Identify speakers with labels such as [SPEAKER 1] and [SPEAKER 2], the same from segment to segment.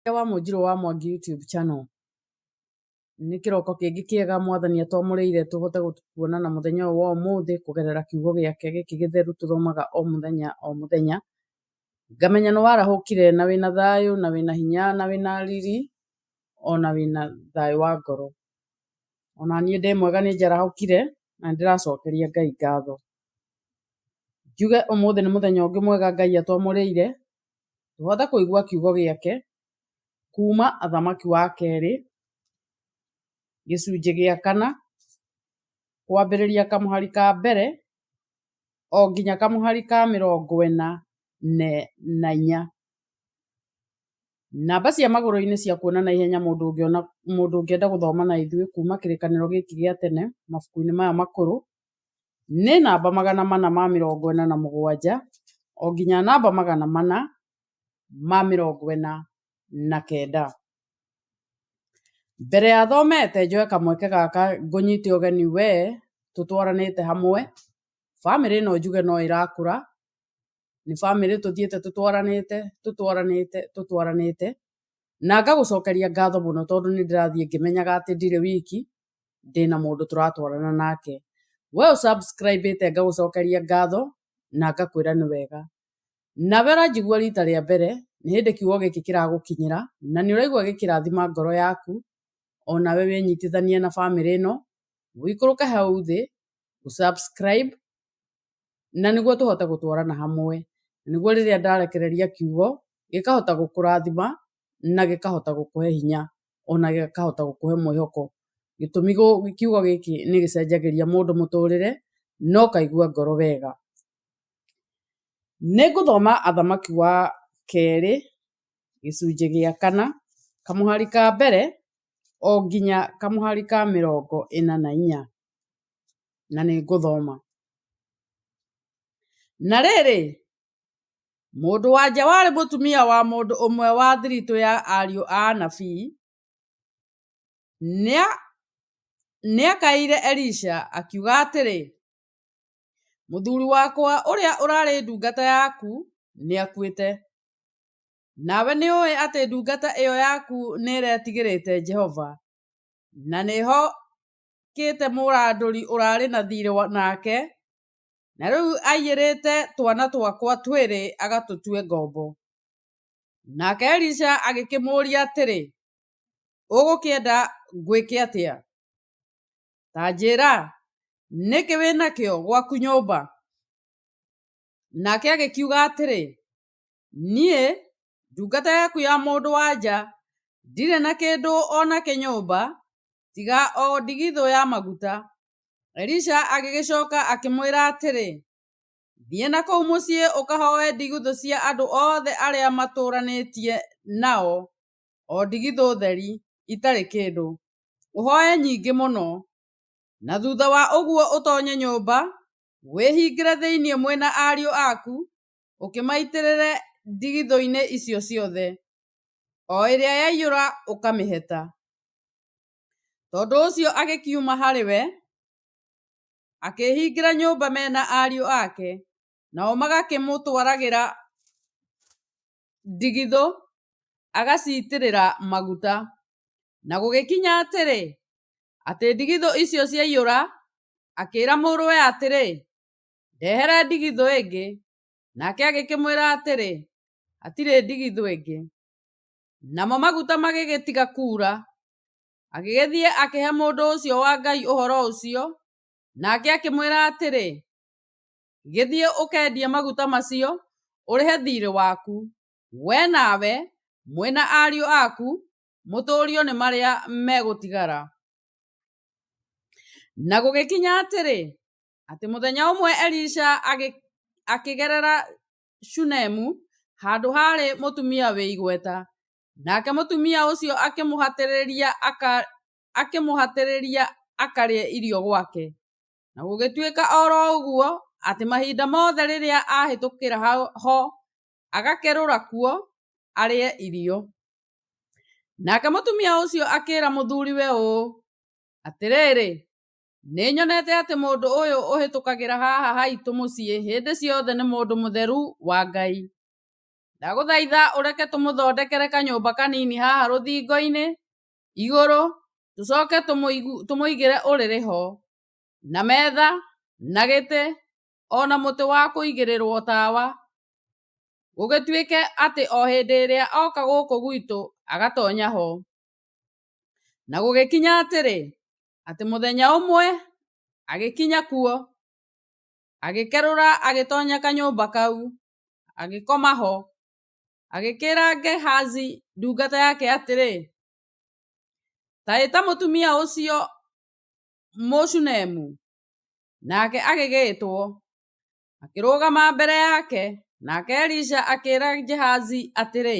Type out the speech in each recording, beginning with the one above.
[SPEAKER 1] Mũtongoria wa Mũnjirũ wa Mwangi YouTube Channel. Nĩ kĩroko kĩngĩ kĩega mwathani atwamũrĩire tũhote kuona na mũthenya ũyũ wa ũmũthĩ kũgerera kiugo gĩake gĩkĩ gĩtheru tũthomaga o mũthenya o mũthenya. Ngamenya nĩ warahũkire na wĩna thayũ na wĩna hinya na wĩna riri ona wĩna thayũ wa ngoro. Ona niĩ ndĩ mwega nĩ njarahũkire na nĩ ndĩracokeria Ngai ngatho. Njuge ũmũthĩ nĩ mũthenya ũngĩ mwega Ngai atwamũrĩire tũhote kũigua kiugo gĩake kuma athamaki wa kerĩ gĩcunjĩ gĩa kana kwambĩrĩria kamũhari ka mbere o nginya kamũhari ka mĩrongo ĩna na inya. Namba cia magũrũ-inĩ cia kuona na ihenya mũndũ ũngĩona mũndũ ũngĩenda gũthoma na ithuĩ kuma kĩrĩkanĩro gĩkĩ gĩa tene mabuku-inĩ maya makũrũ nĩ namba magana mana ma mĩrongo ĩna na mũgwanja o nginya namba magana mana ma mĩrongo ĩna na kenda. Mbere ya thomete njoe kamweke gaka ngũnyite ũgeni we tũtwaranĩte hamwe. Bamĩrĩ ĩno njuge no ĩrakũra, nĩ bamĩrĩ tũthiĩte tũtwaranĩte, tũtwaranĩte, tũtwaranĩte, na ngagũcokeria ngatho mũno tondũ nĩ ndĩrathiĩ ngĩmenyaga atĩ ndirĩ wiki, ndĩna mũndũ tũratwarana nake. We ũ subscribe ĩte ngagũcokeria ngatho na ngakwĩra nĩ wega. Nawe ũranjigua rita rĩa mbere, nĩ hĩndĩ kiugo gĩkĩ kĩragũkinyĩra, na nĩ ũraigua gĩkĩrathima ngoro yaku, o nawe wĩnyitithanie na bamĩrĩ ĩno, ũikũrũke hau thĩ, ũ subscribe, na nĩguo tũhote gũtwarana hamwe, nĩguo rĩrĩa ndarekereria kiugo, gĩkahota gũkũrathima, na gĩkahota gũkũhe hinya, ona gĩkahota gũkũhe mwĩhoko, gĩtũmi kiugo gĩkĩ nĩ gĩcenjagĩria mũndũ mũtũrĩre, na ũkaigua ngoro wega. Nĩ ngũthoma Athamaki wa kerĩ gĩcunjĩ gĩa kana kamũhari ka mbere o nginya kamũhari ka mĩrongo ĩna na inya na nĩ ngũthoma, Na rĩrĩ, mũndũ wa nja warĩ mũtumia wa mũndũ ũmwe wa thiritũ ya ariũ a anabii, nĩakaĩire Elisha akiuga atĩrĩ, Mũthuri wakwa ũrĩa ũrarĩ ndungata yaku nĩakuĩte. Nawe nĩũĩ atĩ ndungata ĩyo yaku nĩĩretigĩrĩte Jehova, na nĩĩhokĩte mũrandũri ũrarĩ na thiirĩ nake, na rĩu aiyĩrĩte twana twakwa twĩrĩ agatũtue ngombo. Nake Elisha agĩkĩmũũria atĩrĩ, Ũgũkĩenda ngwĩke atĩa? tanjĩra, nĩkĩ wĩ nakĩo gwaku nyũmba? Nake agĩkiuga atĩrĩ, niĩ ndungata yaku ya mũndũ wa nja ndirĩ na kĩndũ o nakĩ nyũmba tiga o ndigithũ ya maguta. Elisha agĩgĩcoka akĩmwĩra atĩrĩ, thiĩ na kũu mũciĩ ũkahoe ndigithũ cia andũ othe arĩa matũranĩtie nao o ndigithũ theri itarĩ kĩndũ, ũhoe nyingĩ mũno, na thutha wa ũguo ũtoonye nyũmba, wĩhingĩre thĩinĩ mwe na ariũ aku, ũkĩmaitĩrĩre ndigithũ-inĩ icio ciothe, o ĩrĩa yaiyũra ũkamĩheta. Tondũ ũcio agĩkiuma harĩ we, akĩĩhingĩra nyũmba me na ariũ ake, nao magakĩmũtwaragĩra ndigithũ, agaciitĩrĩra maguta. Na gũgĩkinya atĩrĩ, atĩ ndigithũ icio ciaiyũra, akĩĩra mũrũwe atĩrĩ, "Ndehera ndigithũ ĩngĩ." Nake agĩkĩmwĩra atĩrĩ, "Hatirĩ ndigithũ ĩngĩ." Namo maguta magĩgĩtiga kuura. Agĩgĩthiĩ akĩhe mũndũ ũcio wa Ngai ũhoro ũcio, nake akĩmwĩra atĩrĩ, Gĩthiĩ ũkendie maguta macio ũrĩhe thiirĩ waku, we nawe mwĩ na ariũ aku, mũtũũrio nĩ marĩa megũtigara. Na gũgĩkinya atĩrĩ, atĩ mũthenya ũmwe Elisha akĩgerera Shunemu, handũ harĩ mũtumia wĩ igweta, nake mũtumia ũcio akĩmũhatĩrĩria akarĩe irio gwake. Na gũgĩtuĩka o ro ũguo, atĩ mahinda mothe rĩrĩa ahĩtũkĩra ho, agakerũra kuo arĩe irio. Nake mũtumia ũcio akĩra mũthuriwe ũũ, Atĩrĩrĩ, nĩ nyonete atĩ mũndũ ũyũ ũhĩtũkagĩra haha haitũ mũciĩ hĩndĩ ciothe nĩ mũndũ mũtheru wa Ngai. Ndagũthaitha ũreke tũmũthondekere kanyũmba kanini haha rũthingo-inĩ, igũrũ tũcoke tũmũigĩre ũrĩrĩ ho na metha na gĩtĩ ona mũtĩ wa kũigĩrĩrwo tawa gũgĩtuĩke atĩ o hĩndĩ ĩrĩa oka gũkũ gwitũ agatonya ho. Na gũgĩkinya atĩrĩ atĩ mũthenya ũmwe agĩkinya kuo agĩkerũra agĩtonya kanyũmba kau agĩkoma ho. Agĩkĩĩra Gehazi ndungata yake atĩrĩ, “Ta ĩta mũtumia ũcio Mũshunemu.” Nake agĩgĩĩtwo, akĩrũgama mbere yake. Nake Elisha akĩĩra Gehazi atĩrĩ,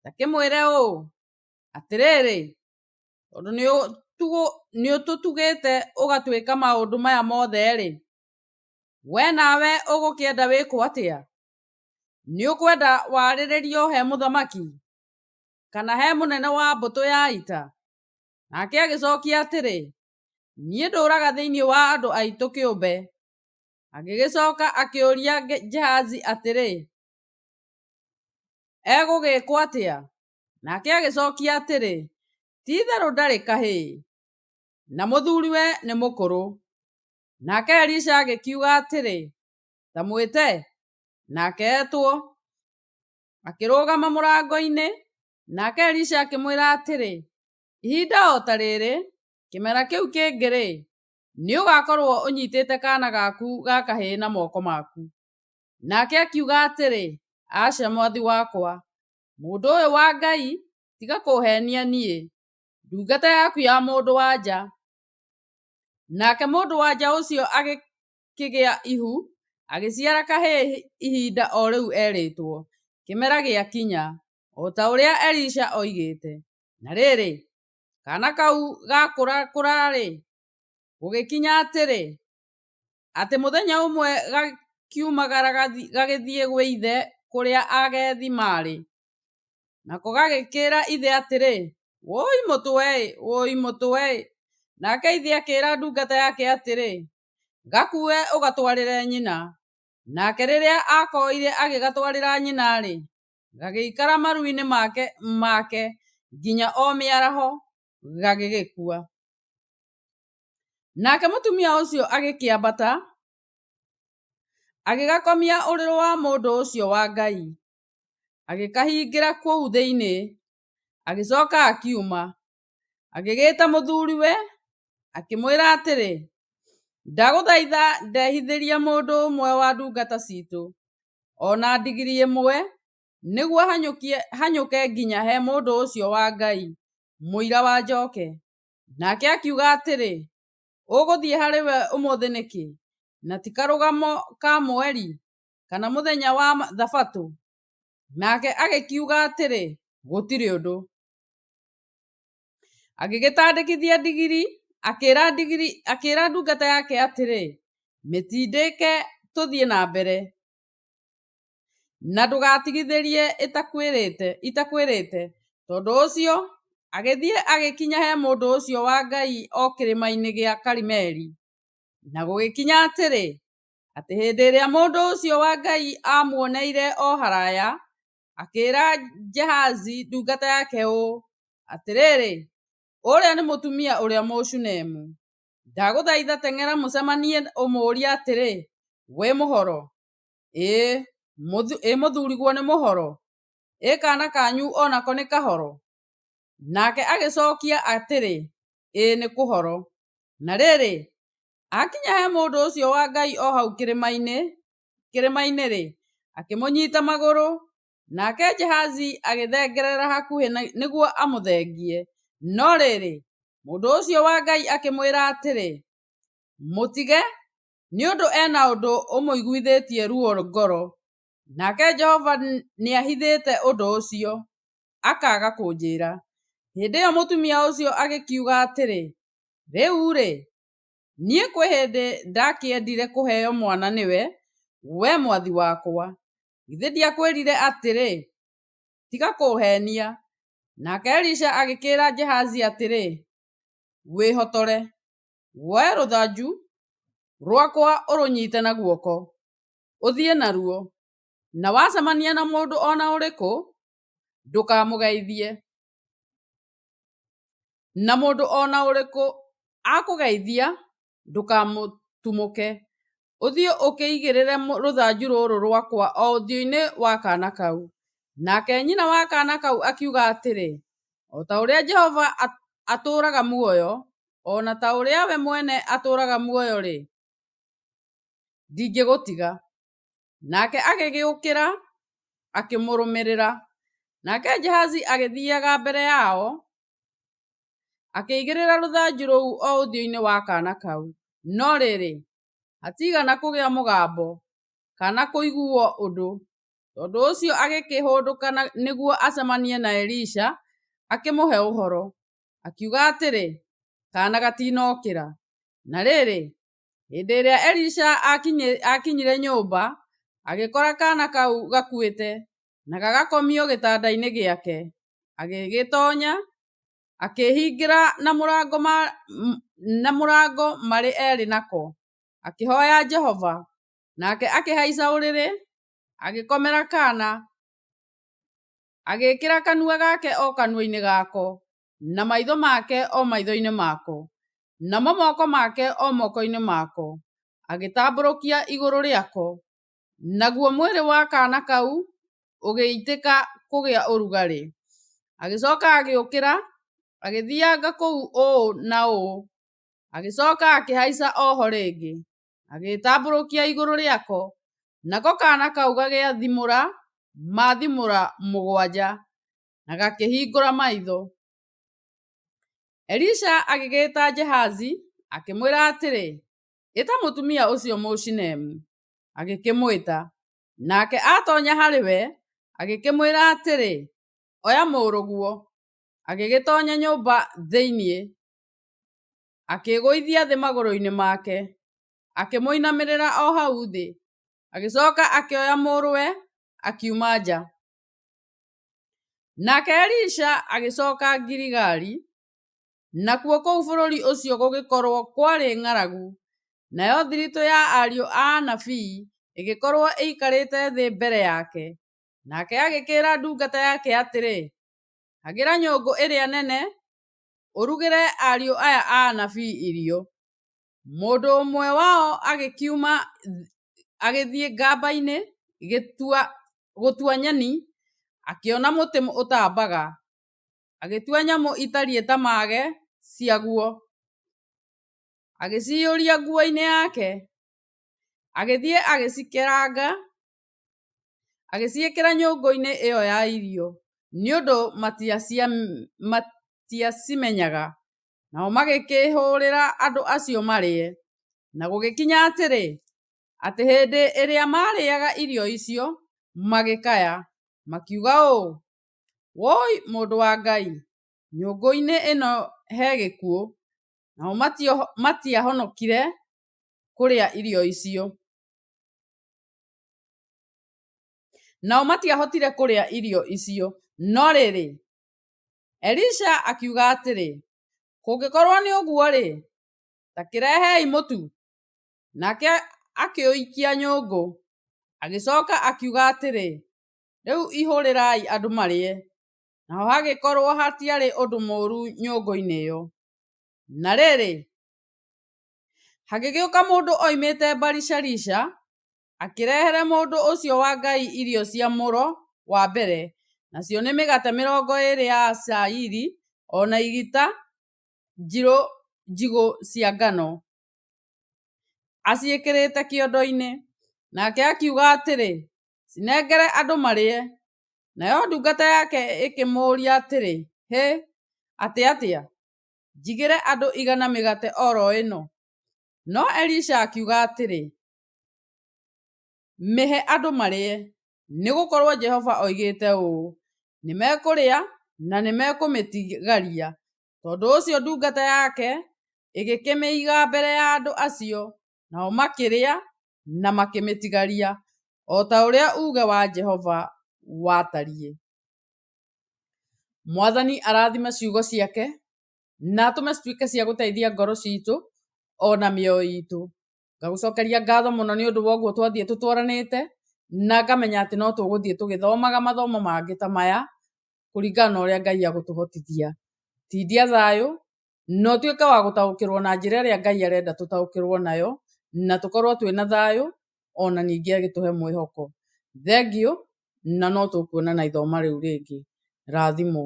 [SPEAKER 1] “Ta kĩmwĩre ũũ, ‘Atĩrĩrĩ, tondũ nĩũtũtugĩte ũgatwĩka maũndũ maya mothe-rĩ, wee nawe ũgũkĩenda wĩkwo atĩa?’ ” Nĩ ũkwenda warĩrĩrio he mũthamaki, kana he mũnene wa mbũtũ ya ita? Nake agĩcokia atĩrĩ, niĩ ndũraga thĩinĩ wa andũ aitũ kĩũmbe. Agĩgĩcoka akĩũria Gehazi atĩrĩ, egũgĩkwo atĩa? Nake agĩcokia atĩrĩ, ti itherũ ndarĩ kahĩĩ, na mũthuriwe nĩ mũkũrũ. Nake Elisha agĩkiuga atĩrĩ, Ndamwĩte? Nake etwo, akĩrũgama mũrango-inĩ. Nake Elisha akĩmwĩra atĩrĩ, ihinda o ta rĩrĩ, kĩmera kĩu kĩngĩ-rĩ, nĩ ũgakorwo ũnyitĩte kaana gaku ga kahĩĩ na moko maku. Nake akiuga atĩrĩ, aca mwathi wakwa, mũndũ ũyũ wa Ngai tiga kũhenia niĩ, ndungata yaku ya mũndũ wa nja. Nake mũndũ wa nja ũcio kĩgĩa ihu, agĩciara kahĩĩ ihinda o rĩu erĩtwo. Kĩmera gĩakinya, o ta ũrĩa Elisha oigĩte, na rĩrĩ, kaana kau gakũrakũra-rĩ, gũgĩkinya atĩrĩ, atĩ mũthenya ũmwe gakiumagara gagĩthiĩ gwĩ ithe kũrĩa agethi maarĩ. Nako gagĩkĩra ithe atĩrĩ, 'Wũi mũtwe-ĩ! Wũi mũtwe-ĩ! Nake ithe akĩra ndungata yake atĩrĩ, Gakue ũgatwarĩre nyina. Nake rĩrĩa akoire agĩgatwarĩra nyina-rĩ, gagĩikara maru-inĩ make, make nginya o mĩaraho gagĩgĩkua. Nake mũtumia ũcio agĩkĩambata agĩgakomia ũrĩrĩ wa mũndũ ũcio wa Ngai, agĩkahingĩra kũu thĩinĩ, agĩcoka akiuma. Agĩgĩĩta mũthuriwe akĩmwĩra atĩrĩ, Ndagũthaitha ndehithĩria mũndũ ũmwe wa ndungata citũ, o na ndigiri ĩmwe, nĩguo hanyũke nginya he mũndũ ũcio wa Ngai, mũira wa njoke. Nake akiuga atĩrĩ, Ũgũthiĩ harĩ we ũmũthĩ nĩkĩ, na ti Karũgamo ka Mweri, kana mũthenya wa Thabatũ? Nake agĩkiuga atĩrĩ, Gũtirĩ ũndũ. agĩgĩtandĩkithia ndigiri akĩra ndigiri akĩra ndungata yake atĩrĩ mĩtindĩke tũthiĩ na mbere na ndũgatigithĩrie ĩtakwĩrĩte itakwĩrĩte tondũ ũcio agĩthiĩ agĩkinya he mũndũ ũcio wa ngai o kĩrĩma-inĩ gĩa karimeli na gũgĩkinya atĩrĩ atĩ hĩndĩ ĩrĩa mũndũ ũcio wa ngai amuoneire o haraya akĩĩra Gehazi ndungata yake ũũ, “Atĩrĩrĩ, ũũrĩa nĩ mũtumia ũrĩa Mũshunemu. Ndagũthaitha teng'era mũcemanie ũmũũrie atĩrĩ, ‘Wĩ mũhoro? Ĩ mũthuriguo nĩ mũhoro? Ĩ kaana kanyu o nako nĩ kahoro?’ ” Nake agĩcokia atĩrĩ, “Ĩ nĩ kũhoro.” Na rĩrĩ, aakinya he mũndũ ũcio wa Ngai o hau kĩrĩma-inĩ, kĩrĩma-inĩ-rĩ, akĩmũnyita magũrũ, nake Gehazi agĩthengerera hakuhĩ nĩguo amũthengie. No rĩrĩ, mũndũ ũcio wa Ngai akĩmwĩra atĩrĩ, Mũtige, nĩ ũndũ e na ũndũ ũmũiguithĩtie ruo ngoro, nake Jehova nĩahithĩte ũndũ ũcio, akaaga kũnjĩra. Hĩndĩ ĩyo mũtumia ũcio agĩkiuga atĩrĩ, Rĩu-rĩ, Niĩ kwĩ hĩndĩ ndakĩendire kũheo mwana nĩwe, wee mwathi wakwa? Githĩ ndiakwĩrire atĩrĩ, 'Tiga kũũheenia'? Nake Elisha agĩkĩĩra Gehazi atĩrĩ, 'Wĩhotore, woe rũthanju rwakwa ũrũnyite na guoko, ũthiĩ naruo, na wacemania na mũndũ o na ũrĩkũ, ndũkamũgeithie. Na mũndũ o na ũrĩkũ akũgeithia, ndũkamũtumũke. Ũthiĩ ũkĩigĩrĩre rũthanju rũrũ rwakwa o ũthiũ-inĩ wa kaana kau. Nake nyina wa kaana kau akiuga atĩrĩ, O ta ũrĩa Jehova atũũraga muoyo, o na ta ũrĩa we mwene atũũraga muoyo-rĩ, ndingĩgũtiga. Nake agĩgĩũkĩra, akĩmũrũmĩrĩra. Nake Jahazi agĩthiaga mbere yao, akĩigĩrĩra rũthanju rũu o ũthiũ-inĩ wa kaana kau. No rĩrĩ, hatiigana kũgĩa mũgambo, kana kũiguo ũndũ. Tondũ ũcio agĩkĩhũndũka nĩguo acemanie na Elisha, akĩmũhe ũhoro, akiuga atĩrĩ, Kaana gatiinokĩra. Na rĩrĩ, Hĩndĩ ĩrĩa Elisha akinyire nyũmba, agĩkora kaana kau gakuĩte na gagakomio gĩtanda-inĩ gĩake. Agĩgĩtonya, akĩhingĩra na mũrango na mũrango marĩ erĩ nako, akĩhoya Jehova. Nake akĩhaica ũrĩrĩ, agĩkomera kaana, agĩkĩra kanua gake o kanua-inĩ gako. na maitho make o maitho-inĩ mako, namo moko make o moko-inĩ mako, agĩtambũrũkia igũrũ rĩako, naguo mwĩrĩ wa kaana kau ũgĩitĩka kũgĩa ũrugarĩ. Agĩcoka agĩũkĩra, agĩthianga kũu ũũ na ũũ, agĩcoka akĩhaica oho rĩngĩ, agĩĩtambũrũkia igũrũ rĩako, nako kaana kau gagĩathimũra mathimũra mũgwanja, na gakĩhingũra maitho. Elisha agĩgĩta Gehazi, akĩmwĩra atĩrĩ, ĩta mũtumia ũcio Mũshinemu. Agĩkĩmwĩta, nake atonya harĩ we, agĩkĩmwĩra atĩrĩ, oya mũrũguo. Agĩgĩtonya nyũmba thĩiniĩ, akĩgũithia thĩ magũrũ-inĩ make, akĩmũinamĩrĩra o hau thĩ. Agĩcoka akĩoya mũrũwe, akiuma nja. Nake Elisha agĩcoka Giligali, nakuo kũu bũrũri ũcio gũgĩkorwo kwarĩ ng'aragu, nayo thiritũ ya ariũ a anabii ĩgĩkorwo ĩikarĩte thĩ mbere yake. Nake agĩkĩĩra ndungata yake atĩrĩ, Hagĩra nyũngũ ĩrĩa nene, ũrugĩre ariũ aya a anabii irio. Mũndũ ũmwe wao agĩkiuma agĩthiĩ gamba-inĩ gũtua nyeni akĩona mũtĩ ũtambaga, agĩtua nyamũ itariĩ ta mage ciaguo, agĩcihũria nguo-inĩ yake, agĩthiĩ agĩcikeranga agĩciĩkĩra nyũngũ-inĩ ĩyo ya irio nĩ ũndũ matiacimenyaga. Nao magĩkĩhũũrĩra andũ acio marĩe. Na gũgĩkinya atĩrĩ, atĩ hĩndĩ ĩrĩa maarĩaga irio icio, magĩkaya, makiuga ũũ, Wũi mũndũ wa Ngai, nyũngũ-inĩ ĩno he gĩkuũ. Nao matiahonokire kũrĩa irio icio. Nao matiahotire kũrĩa irio icio. No rĩrĩ, Elisha akiuga atĩrĩ, Kũngĩkorwo nĩ ũguo-rĩ, ta kĩrehei mũtu. Nake akĩũikia nyũngũ. Agĩcoka akiuga atĩrĩ, Rĩu ihũrĩrai andũ marĩe. Naho hagĩkorwo hatiarĩ ũndũ mũũru nyũngũ-inĩ ĩyo. Na rĩrĩ, hagĩgĩũka mũndũ oimĩte Baali-shalisha, akĩrehere mũndũ ũcio wa Ngai irio cia mũro wa mbere, nacio nĩ mĩgate mĩrongo ĩĩrĩ ya cairi o na igita njirũ njigũ cia ngano, aciĩkĩrĩte kĩondo-inĩ. Nake akiuga atĩrĩ, Cinengere andũ marĩe. Nayo ndungata yake ĩkĩmũũria atĩrĩ, Hĩ! Atĩ atĩa? Njigĩre andũ igana mĩgate o ro ĩno? No Elisha akiuga atĩrĩ, Mĩhe andũ marĩe, nĩ gũkorũo Jehova oigĩte ũũ, 'Nĩ mekũrĩa na nĩ mekũmĩtigaria. ' Tondũ ũcio ndungata yake ĩgĩkĩmĩiga mbere ya andũ acio, nao makĩrĩa na makĩmĩtigaria, o ta ũrĩa uuge wa Jehova watariĩ. Mwathani arathime ciugo ciake na atũme cituĩke cia gũteithia ngoro citũ o na mĩoyo itũ. Ngagũcokeria ngatho mũno nĩ ũndũ wa ũguo twathiĩ tũtwaranĩte, na ngamenya atĩ no tũgũthiĩ tũgĩthomaga mathomo mangĩ ta maya, kũringana na ũrĩa Ngai agũtũhotithia. Tindia thayũ, na ũtuĩke wa gũtaũkĩrwo na njĩra ĩrĩa Ngai arenda tũtaũkĩrwo nayo, na tũkorwo twĩna thayũ, ona ningĩ agĩtũhe mwĩhoko. Thengiũ, na no tũkuonana ithoma rĩu rĩngĩ. Rathimwo.